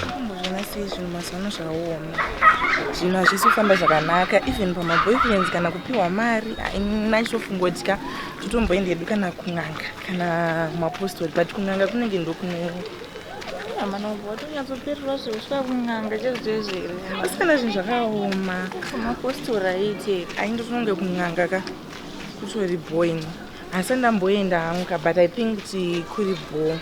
kumbozvona sei zvinhu mazano zvakaoma zvinhu hazvisi kufamba zvakanaka even pamaboyfriends kana kupiwa mari nachitofungodya totomboenda hedu kana kun'anga kana mapostori but kun'anga kunenge ndokunoo amana ubva watonyatsopererwa zve usvika kun'anga chezvezvere asi kana zvinhu zvakaoma mapostori aite ainge tinonge kun'anga ka kutori boini Hasati ndamboenda hangu ka but I think kuti kuri bho.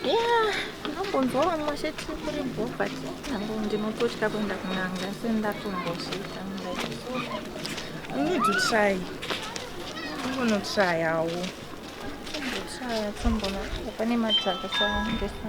Yeah, ndambonzwa vamwe vachiti kuri bho but ndango ndinototya kuenda kunanga asi ndatombosvika like so. You need to try. I'm gonna try hawo. Tombotry tombona pane madzaka sandesa.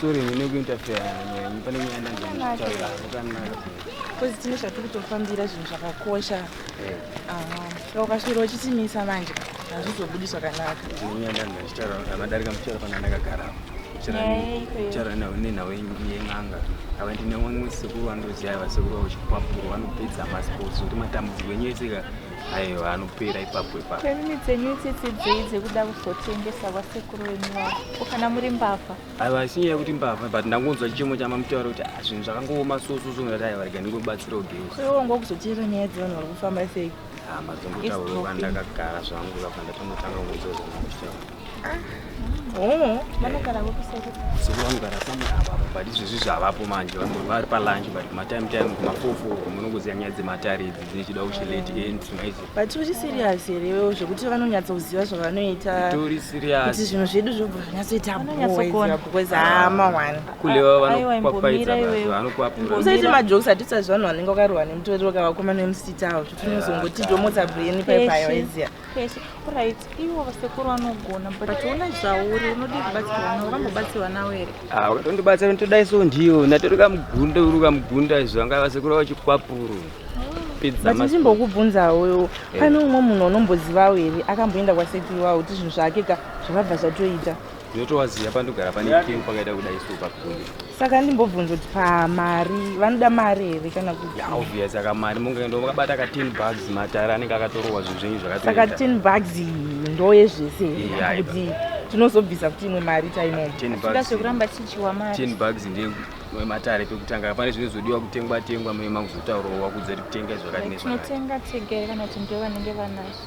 Sorry, ndine kuinterfere nemi pane nyaya ndanzokutaura zvakanaka. Kozi tine zvatiri kutofambira zvinhu zvakakosha. Eh. Aha. Saka ukasvira uchitimisa manje hazvizobudi zvakanaka. Ndine nyaya ndanzokutaura amadarika muchara pana ndakagara. Chara nawo nenhawo yen'anga ava ndine vamwe sekuru vanotoziva vasekuru vavo chikupapuro vanopedza masports kuti matambudziko enyu eseka aiwa anopera ipapo ipapo nemimi dzenyu itsitsi dzei dzekuda kuzotengesa kwasekuru venyu vavo ko kana muri mbavha aiwa isinyaya yekuti mbavha but ndangonzwa chichemo chamamutaura kuti ah, zvinhu zvakangooma sososo ndati aiwa rega ndingobatsira ugeusa iwo ngo kuzoteera nyaya dzevanhu vari kufamba sei ah, mazongotaura ndakagara zvangu kapa ndatongotanga kunzwa zvangu kuchitaura Eh, vanogara kuseri. Soko vanogara pamwe apa but izvezvi zvavapo manje vari palunch but kumatime time kumafofu munongoziva nyaya dzematare idzi dzechida kuchilate end maizi. But uri serious here iwewo zvekuti vanonyatsa kuziva zvavanoita. Tori serious. Kuti zvinhu zvedu zvobva zvanyatsoita boys because hama one. Kulewa vanokwapaidza vanokwapura. Usaite majokes atitsa zvanhu vanenge wakarohwa nemutoriro kavakomana vemusita avo zvekuti unozongoti domotsa brain paipayo iziya. Kwese, right, iwo vasekuru vanogona but una zvauri unodi kubatsirwa nawo vambobatsirwa nawo here ah ukatondibatsira ndodai so ndiyo ndatori kamugunda uri kamugunda izvo vanga vasekuru vachikwapuru but ndimbokubvunzawo eh. pane umwe munhu unombozivawo here akamboenda kwasekuru wawo kuti zvinhu zvake ka zvakabva zvatoita ndotowaziva pandogara pane keu pakaita kudai so pakuye saka ndimbobvunza kuti pamari vanoda mari here kana kuti ya obvious aka mari mungaenda makabata ka ten bugs matare anenge akatorowa zvinhu zvenyu zvakasaka ten bugs ndoye zvese kuti tinozobvisa kuti imwe mari taimoaekuramba tichiwa mari ten bugs ndiye matare pekutanga pane zvine zodiwa kutengwa tengwa mema kuzotaurawo wakudza kuti kutenga zvakati nezvakati tinotenga tega kana kuti ndivo vanenge vanazvo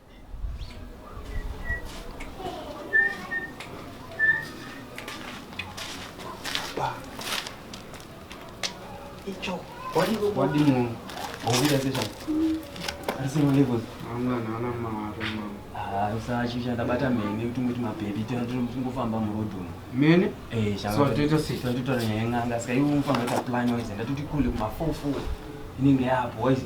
usachichandabata mhene kuti ungoti mabhebhi tingofamba murodhi umu mene eh, totora nyaya yen'anga saka iwe unofamba ita plan waize ndatoti kule kumafofo inenge yapo waize